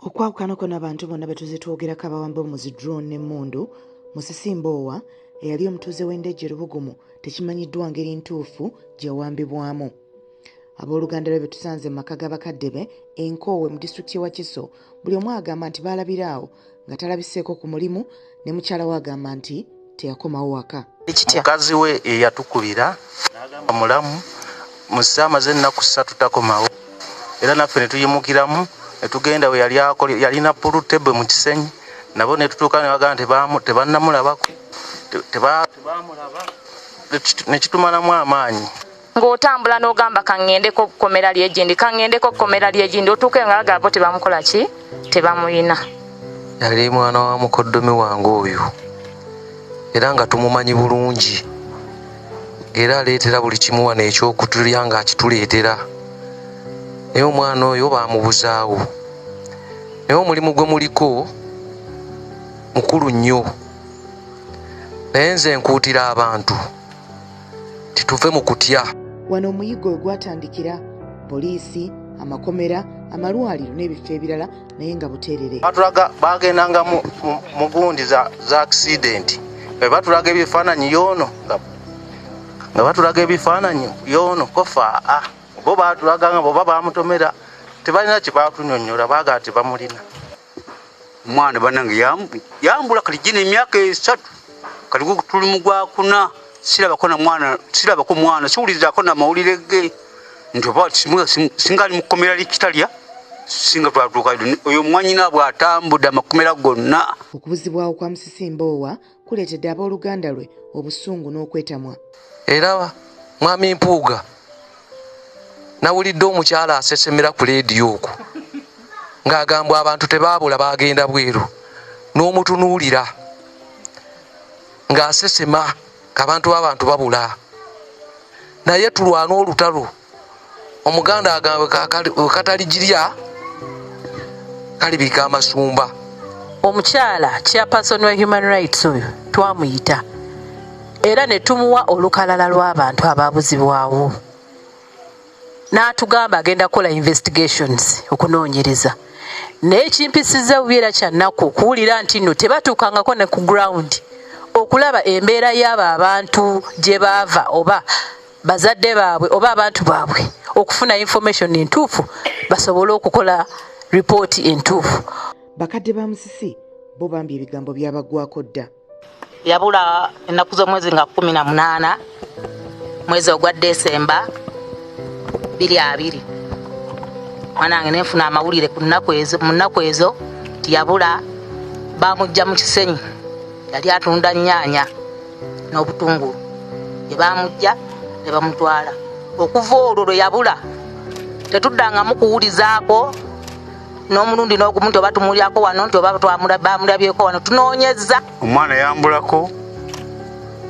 okwawukanako n'abantu bonna betuze twogerako abawamba omuzi drone n'emmundu musisi mboowa eyali omutuuze w'endejje lubugumu tekimanyiddwa ngeri ntuufu gyeyawambibwamu abooluganda lwe betusanze mu maka g'abakadde be enkoowe mu disitulikiti y'e wakiso buli omu agamba nti baalabira awo nga talabiseeko ku mulimu ne mukyala we agamba nti teyakomawo waka mukazi we eyatukubira nagamba mulamu muze amaze ennaku ssatu takomawo era naffe netuyimukiramu netugenda we yali akole yalina pulu tebwe mu kisenyi nabo netutuuka nebagamba nti tebannamulabako tebamulaba nekitumalamu amaanyi ng'otambula n'ogamba kaŋŋendeko kkomera lyegindi kaŋŋendeko kkomera lyegindi otuuke nga bagala bo tebamukola ki tebamuyina yali mwana wa mukoddomi wange oyo era nga tumumanyi bulungi era aleetera buli kimu wano ekyokutulya ng'akituleetera naye omwana oyo baamubuzaawo naye omulimu gwe muliko mukulu nnyo naye nze nkuutira abantu tituve mu kutya. Wano omuyiggo we gwatandikira, poliisi, amakomera, amalwaliro n'ebifo ebirala naye nga buteerere. Batulaga baagendanga mu gundi za akisidenti be batulaga ebifaananyi yoono nga batulaga ebifaananyi yoono kofaa ah, bo baatulaga nga boba baamutomera tebalina kye baatunyonnyola baagala tebamulina. mwana banange yambula kati jina emyaka esatu kati tuli mugwakuna sirabako na mwana sirabako mwana siwulirizako na mawulire ge nti oba singa ali mukomera likitalya singa twatuuka oyo mwanyina bw'atambudde amakomera gonna okubuzibwawo kwa musisimboowa kuleetedde ab'oluganda lwe obusungu n'okwetamwa era mwami mpuuga nawulidde omukyala asesemera ku leediyo okwo ng'agambwa abantu tebaabula baagenda bweru n'omutunuulira ng'asesema abantu b'abantu babula naye tulwana olutalo omuganda agambe kataligyirya kalibika amasumba omukyala chairperson wa human rights oyo twamuyita era ne tumuwa olukalala lw'abantu abaabuzibwawo n'atugamba agenda kukola investigations okunoonyereza naye ekimpisiza bubi era kyannaku okuwulira nti nno tebatuukangako ne ku ground okulaba embeera y'abo abantu gye baava oba bazadde baabwe oba abantu baabwe okufuna information entuufu basobole okukola ripooti entuufu bakadde ba musisi bo bambi ebigambo byabagwako dda yabula ennaku z'omwezi nga kumi na munaana mwezi ogwa desemba biri abiri mwanange nenfuna amawulire mu nnaku ezo nti yabula bamujja mu kisenyi yali atunda nyaanya n'obutungulu ne baamujja ne bamutwala okuva olwo lwe yabula tetuddangamu kuwulizaako n'omulundi n'ogumu nti oba tumulyako wano nti oba bamulabyeko wano tunoonyezza omwana yambulako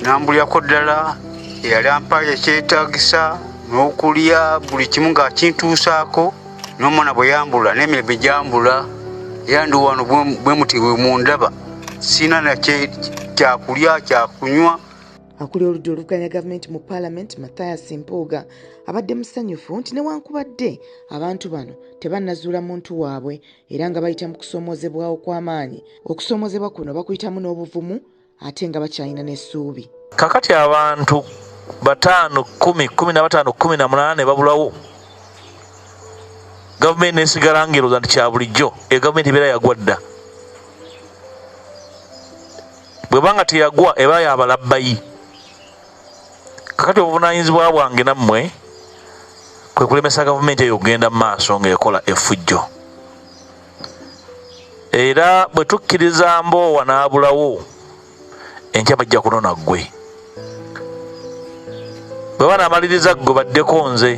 nambulyako ddala eyali ampayo ekyetagisa n'okulya buli kimu ng'akintuusaako nomwana bwe yambula n'emirembe gyambula era ndi wano bwe muti bwe mundaba sirina na kyakulya kyakunywa akulira oludda oluvuganya gavumenti mu paalamenti mathias mpuuga abadde musanyufu nti newankubadde abantu bano tebannazuula muntu waabwe era nga bayita mu kusoomoozebwawo kw'amaanyi okusoomoozebwa kuno bakuyitamu n'obuvumu ate nga bakyalina n'essuubi kakati abantu bataano kumi kumi na bataano kumi na munana ne babulawo gavumenti nesigala ngeroza nti kya bulijjo e gavumenti ebeera yagwa dda bwebanga teyagwa eba yabalabbayi kakati obuvunanyizibwa bwange nammwe kwe kulemesa gavumenti eyo okugenda mu maaso ng'ekola efujjo era bwe tukkiriza mboowa n'abulawo enkya bajja kunona ggwe bwe banaamaliriza ggwe baddeko nze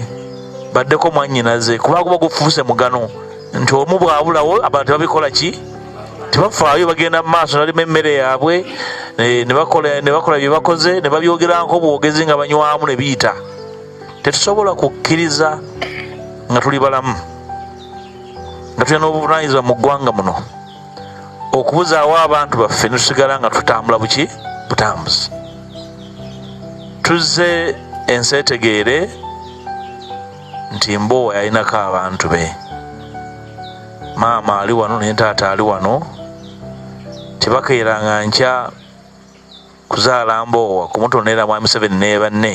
baddeko mwannyinaze kuba guba gufuuse mugano nti omu bwabulawo abantu babikola ki tebafaayo bagenda mu maaso nalima emmere yaabwe eh, ne bakola bye bakoze ne babyogeranko bwogezi nga banywamu ne biyita tetusobola kukkiriza nga tuli balamu nga tulina n'obuvunanyizibwa mu ggwanga muno okubuzaawo abantu baffe netusigala nga tutambula buki butambuzi tuzze enseetegeere nti mboowa yalinako abantu be maama ali wano naye taata ali wano tebakeeranga nkya kuzaala mboowa kumutonera mwami seveni nebanne